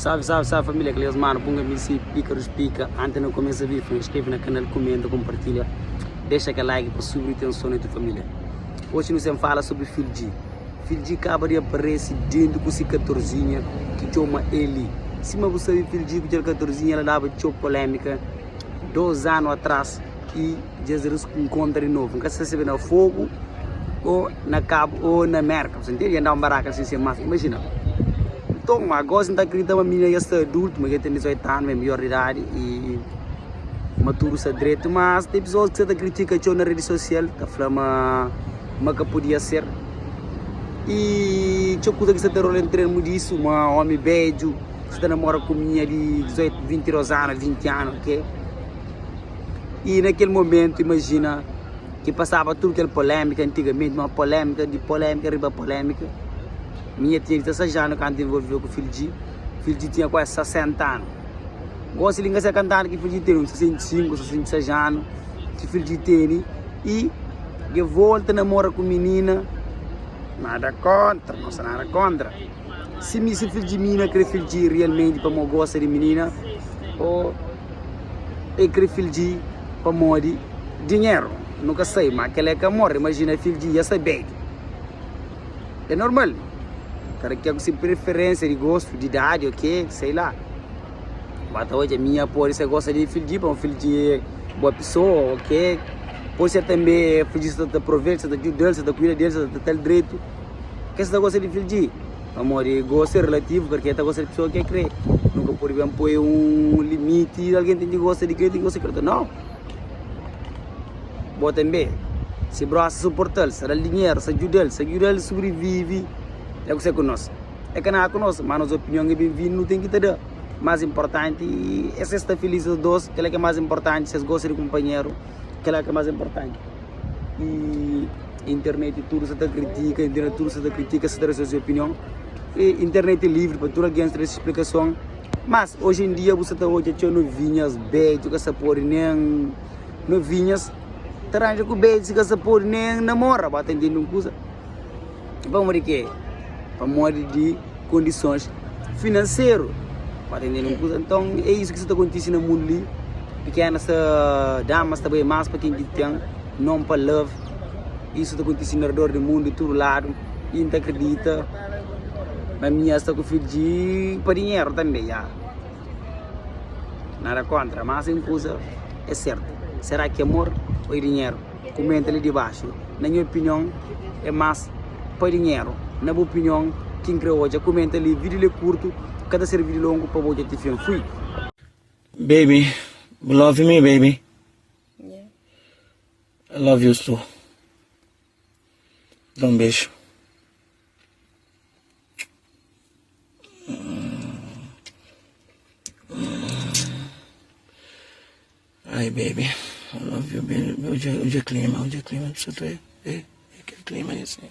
Salve salve salve família Kalias Mano punga mi si pika ruspika antes na kumesa bife na inskreve na kanal kumenta kumpartilha dexa kel like pa subri tenson e tu família oxi nu sem fala sobri filho di filho di kaba di aparesi dentu ku si katorzinha ki txoma Eli sima bu sabi filho di ku txel katorzinha ela daba txeu polemika 2 anu atras ki. Djes riz nkontra di novu nka sta sebe na fogu o na kabu o na merka bsen td andaba nbaraka asi sen mask imajina nton ma gos nta kridita ma minina dja sta adultu ma dja ten 18 anu ma é maior di idadi y ma tudu sta dretu mas ten pesoas ki sa ta kritika txeu na redi sosial ta fla ma ma ka podia ser y txeu kuza ki sta ta rola en termu disu ma omi bedju sta namora ku minina di 18 22 anu 20 anu ok. y na kel momentu imajina ki pasaba tudu kel polémika antigamente ma polémika di polémika riba polémika mi nha tinha 16 anu kantu involveu ku filhu dji filhu dji tinha kuazi 60 anu gosi li n'ka se kanta anu ki filhu dji teni un 65 66 anu ki filhu dji teni y dje volta namora ku minina nada kontra nosa nada kontra Si mi ser fidji mina kre fidji realmenti pamo gosta di minina o e kre fidji pamodi dinheru nu ka sai ma kel e ka amor imajina e fidji ya sa bedi e normal kada kel ku si preferensia di gostu di idadi o ke sai la ba ta odja mia podi ser gosta di fidji pamo fidji e bua pisoa o ke podi ser tambe fidji sa ta provel sa ta djudal sa ta kuida del sa ta tratal dretu. Ke sta gosta di filgi? Pamodi gosta e relativu, kar ke ta gosta di pesoa ke kre. Nu ka podi ben poi un limiti, algen ten ki gosta di kre, ten ki gosta di kre otu. Nau! Bo tenbe, si brosa suportal, sa dal dinheru, sa judal, sa judal subrivivi, e kuse ku nos? E ka nada ku nos, ma nos opinion e ben vindu, nu ten ki ta da. Mas importanti e se sta filis os dos, kela ke mas importanti, si es gosta di kumpanheru, kela ke mas importanti. e internet tudo sa ta critica internet tudo sa ta critica sa ta da ses opinion e internet livre pa tudo alguém da explicação mas hoje em dia você ta hoje tchau novinhas beijo que sa pode nem novinhas taranja com beijo que sa pode nem namora bota entende um coisa Pamodi kê? Pamodi di kondisons finanseru. Sta ta intende un kuza? Nton, é isu ki sta ta kontise na mundu li. Pikénas ta. Damas ta bai más pa ken ki ten non pa love. Isu sta ta kontise na redor di mundu, di tudu ladu. I N ta kridita ma mi nhas sta ku fidji pa dinheru tanbê, ya. Nada kóntra, mas un kuza é sertu, sera ki é amor ô é dinheru? Kumenta li dibaxu. Na nha opinion é más pa dinheru. Na bu opinion kin kre odja kumenta li. Video li é kurtu ka ta ser video longu pa bu odja ti fin. Fui. Baby bu love me baby yeah i love you too da un beju. Ai baby, I love you baby. Hoje, hoje é clima, hoje é clima, só tu é, é, é aquele clima, é assim.